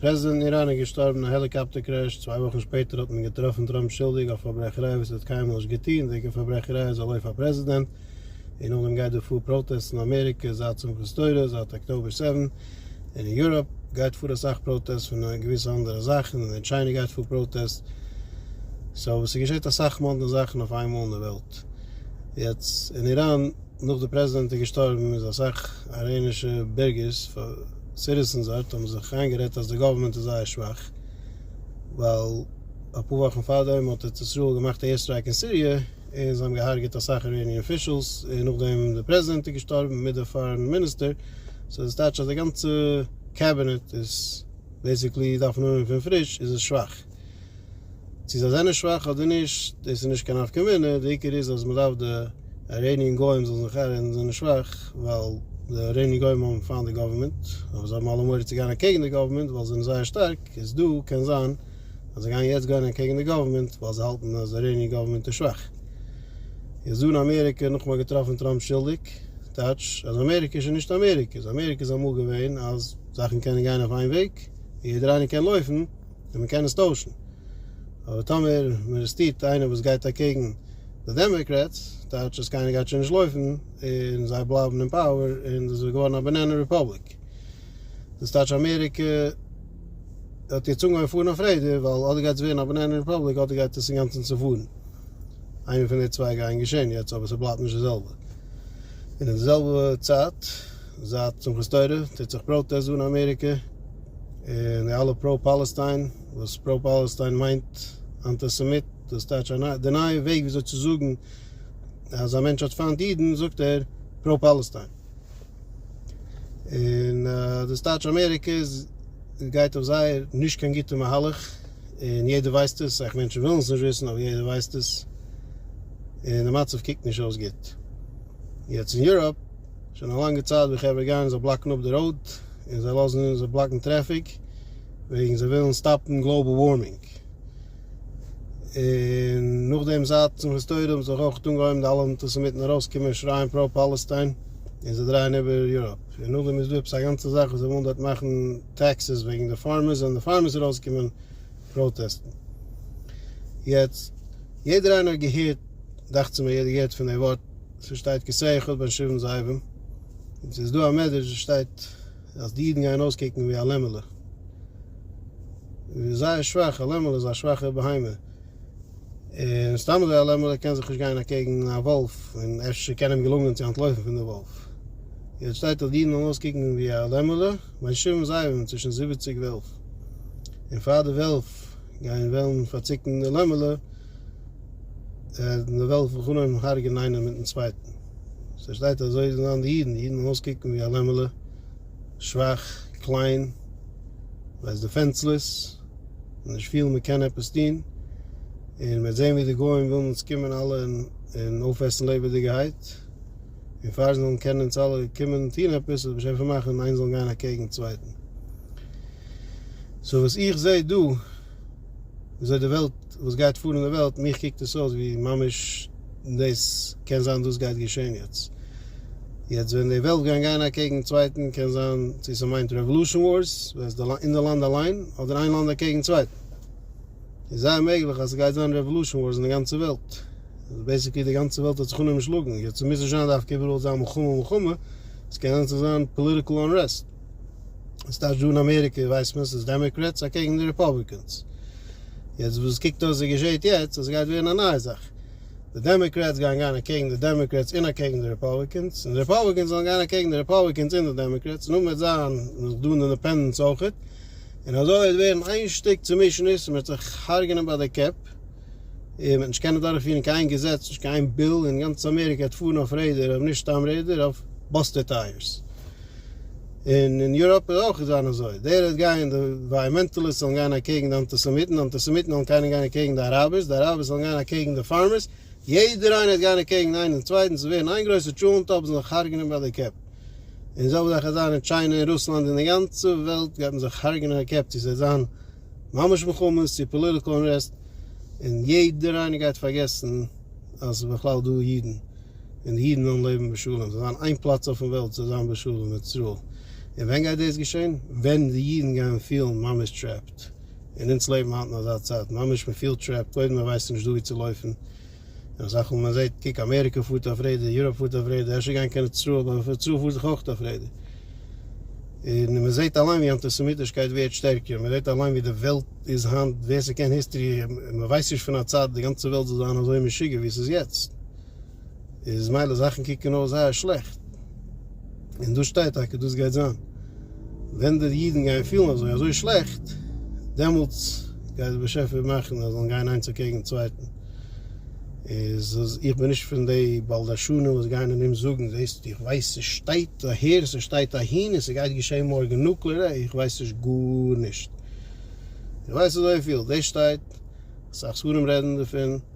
פרעזידענט אין איראן איז געשטארבן אין א העליקאפטער קרעש, צוויי וואכן שפעטער האט מען געטראפן טראמפ שולדיג אויף פארברעכעריי וואס ער האט קיינמאל נישט געטון, וועגן פארברעכעריי איז ער לויף פאר פרעזידענט, און נאכדעם גייט דא פאר פראטעסט אין אמעריקע זייט שמחת תורה זייט אקטאבער סעווען, און אין יוראפ גייט פאר אסאך פראטעסט פון געוויסע אנדערע זאכן, און אין טשיינע גייט פאר פראטעסט, סאו ס'געשעט אסאך מאדנע זאכן אויף איין מאל אין די וועלט, יעצט אין איראן נאך די פרעזידענט איז געשטארבן איז אסאך אראענישע בירגערס. סיטיזענס דארט האבן זיך איינגערעדט אז די גאווערמענט איז זייער שוואך ווייל אפאר וואכן פארדעם האט ארץ ישראל געמאכט א עיר סטרייק אין סיריע און זיי האבן געהארגעט אסאך איראניען אפישעלס און נאכדעם די פרעזידענט איז געשטארבן מיט די פארען מיניסטער סאו דאס טייטש אז די גאנצע קעבינעט איז בעיסיקלי דארפן אנהויבן פון פריש איז עס שוואך. צו זיי זענען שוואך אדער נישט דאס איז נישט קיין נפקא מינה, די עיקר איז אז מען דארף די אייראניען גוים זאלן זיך ערהערן זיי זענען שוואך ווייל די אייראניען גוים האבן פיינט די גאווערמענט אבער זיי האבן אלע מורא צו גיין אקעגן די גאווערמענט ווייל זיי זענען זייער שטארק איז דא קען זיין אז זיי גייען יעצט גיין אקעגן די גאווערמענט ווייל זיי האלטן אז אייראניען גאווערמענט איז שוואך. איז אן אמעריקע נאכאמאל געטראפן טראמפ שולדיג טייטש אז אמעריקע איז שוין נישט אמעריקע איז אמעריקע איז אמאל געווען אז זאכן קענען גיין אויף איין וועג און יעדער איינער קען לויפן. און מען קען עס טוישן, אבער טאמער מען ארעסטירט איינער וואס גייט אקעגן די דעמאקרעטס, טייטש אז קיינער גייט שוין נישט לויפן, און זיי בלייבן אין פאוער, און דאס איז געווארן א באנענע רעפובליק. דאס טייטש אמעריקע האט יעצט אנגעהויבן פארן אויף רעדער, ווייל אדער גייט עס ווערן א באנענע רעפובליק, אדער גייט עס אינגאנצן צופארן. איינע פון די צוויי גייען געשען יעצט, אבער ס'בלייבט נישט די זעלבע. און אין די זעלבע צייט. זייט שמחת תורה טוט זיך פראטעסט דא אין אמעריקע, און די אלע פרא פאלעסטיין, וואס פרא פאלעסטיין מיינט אנטיסעמיט, דאס טייטש א ניי, די נייע וועג וויאזוי צו זאגן אז א מענטש האט פיינט אידן זאגט ער פרא פאלעסטיין, און דאס טייטש אמעריקע איז גייט אויף זייער נישט קיין גוטע מהלך, און יעדער ווייסט עס, אסאך מענטשן ווילן עס נישט וויסן אבער יעדער ווייסט עס, און די מצב קוקט נישט אויס גוט יעצט אין יוראפ. שוין א לאנגע צייט ווי חברה גייען זיך בלאקן אפ די ראוד און זיי לאזן אונז בלאקן טרעפיק וועגן זיי ווילן סטאפן גלאובעל ווארמינג. און נאכדעם זייט שמחת תורה האבן זיך אויך אנגעהויבן די אלע אנטיסעמיטן ארויסקומען און שרייען פרא פאלעסטיין און זיי דרייען איבער יוראפ. און נאכדעם איז דא עפעס א גאנצע זאך וואס זיי ווילן דארט מאכן טעקסעס וועגן די פארמערס וועלן די פארמערס ארויסקומען. פראטעסטן. יעצט, יעדער איינער האט געהערט, דאכצער מיר יעדער געהערט פון די ווארט, ס'וואס שטייט כסא אחד בין שבעים זאבים, און ס'איז דא א מדרש וואס שטייט אז די אידן גייען אויסקוקן ווי א לעמעלע, זייער שוואך, א לעמעלע איז א שוואכע בהמה, און סתם אזוי אליין ווייל ער קען זיך נישט גיין אקעגן א וואלף און אפשר קען אים געלונגען צו אנטלויפן פון די וואלף. יעצט שטייט דארט אידן און לאז קוקן ווי א לעמעלע בין שבעים זאבים צווישן זיבעציג וועלף און פאר די וועלף גייען וועלן פארציקן די לעמעלע וועלן די וועלף בחנם הרג'ען איינער מיטן צווייטן. ס'שטייט אזוי זענען די אידן, די אידן און לאז קוקן ווי א לעמעלע. שוואך, קליין, מען איז דיפענסלעס, מען נישט פיל מען קען עפעס טון, און מען וועט זען ווי די גוים ווילן אונז קומען אלע און אויפעסן לעבעדיגעהייט, און פאר זיי זאלן קענען אונז אלע קומען טון עפעס וועט מען שוין פארמאכן און איינס זאלן גיין אקעגן צווייטן. סאו וואס איך זעה דא. וויאזוי די וועלט וואס גייט פאר אין די וועלט מיך קוקט עס אויס ווי ממש דאס קען זיין דאס גייט געשען יעצט יעצט ווען די וועלט גייען גיין אקעגן צווייטן קען זיין צו ס'מיינט רעוואלושען ווארס ווען ס'איז אין די לאנד אליין אדער איין לאנד אקעגן צווייטן איז זייער מעגליך אז ס'גייט זיין רעוואלושען ווארס אין די גאנצע וועלט אז בעסיקלי די גאנצע וועלט האט זיך אנגעשלאגן יעצט ס'מוז נישט זיין דווקא איבעראל זיין מלחמה מלחמה ס'קען ענדערש זיין פאליטיקל אנרעסט. ס'טייטש דא אין אמעריקע ווייסט מען ס'איז דעמעקרעטס אקעגן די ריפאבליקענס. יעצט וואס עס קוקט אויס ווי געשעהט יעצט אז ס'גייט ווערן א נייע זאך. די דעמעקרעטס גייען גיין אקעגן די דעמעקרעטס און אקעגן די ריפאבליקענס, און די ריפאבליקענס זאלן גיין אקעגן די ריפאבליקענס און די דעמעקרעטס, און נאך וועט זיין נאך דא אינדעפענדענטס אויכעט, און אזוי וועט ווערן איין שטיק צומישעניש און מ'וועט זיך הרג'ענען ביי די קעפ, און מ'וועט נישט קענען דורכפירן קיין איין געזעץ, נישט קיין איין ביל, און גאנץ אמעריקע וועט פארן אויף רעדער, אבער נישט סתם רעדער, אויף באסטער טייערס. און אין יוראפ איז אויך געווען אזוי, דער וועט גיין, די עווייערמענטעליסט זאלן גיין אקעגן די אנטיסעמיטן, די אנטיסעמיטן וועלן קיינער גיין אקעגן די אראבערס, די אראבערס וועלן גיין אקעגן די פארמערס, יעדער איינער וועט גיין אקעגן איינעם און צווייטן, ס'וועט ווערן איין גרויסע טשולענט, אויב זאל זיך הרג'נען ביי די קעפ. און אזוי וועט זיך עס זיין אין טשיינע און רוסלאנד און די גאנצע וועלט גייט מען זיך הרג'נען די קעפ, צו ס'וועט זיין ממש מלחמות, צו פאליטיקעל אנרעסט, און יעדער איינער גייט פארגעסן אז ס'איז בכלל דא אידן. און די אידן וועלן לעבן בשלום, ס'זאל זיין איין פלאץ אויפן וועלט ס'זאל זיין בשלום מיט ישראל, און ווען גייט דאס געשען? ווען די אידן גייען פילן ממש טרעפט, און אונז לעבן היינט אין אזא צייט, ממש מען פילט טרעפט, קודם מען ווייסט נישט דא ווי צו לויפן, און אסאך מאל מען זעט, קוק אמעריקע פארט אויף רעדער, יוראפ פארט אויף רעדער, אפשר גיין קיין ישראל, אבער פון ישראל פארט זיך אויך אויף רעדער, און מען זעט אליין ווי אנטיסעמיטישקייט ווערט שטערקער, מען זעט אליין ווי די וועלט איז היינט, ווער ס'קען היסטערי, מען ווייסט נישט פון א צייט די גאנצע וועלט זאל זיין אזוי משוגע ווי ס'איז יעצט. איז מילא זאכן קוקן אויס זייער שלעכט, און דאס שטייט טאקע דאס גייט זיין, ווען די אידן גייען פילן אזוי אזוי שלעכט, דעמאלטס גייט דער באשעפער מאכן אז זיי זאלן גיין איינס אקעגן צווייטן, איז איך בין נישט פון די בלדשנים וואס גייען און אים זאגן, זעסט איך ווייס ס'שטייט אהער ס'שטייט אהין און ס'גייט געשען מארגן נוקלער, עה איך ווייס נישט גארנישט, איך ווייס אזויפיל דאס שטייט, אסאך ספרים רעדן דערפון.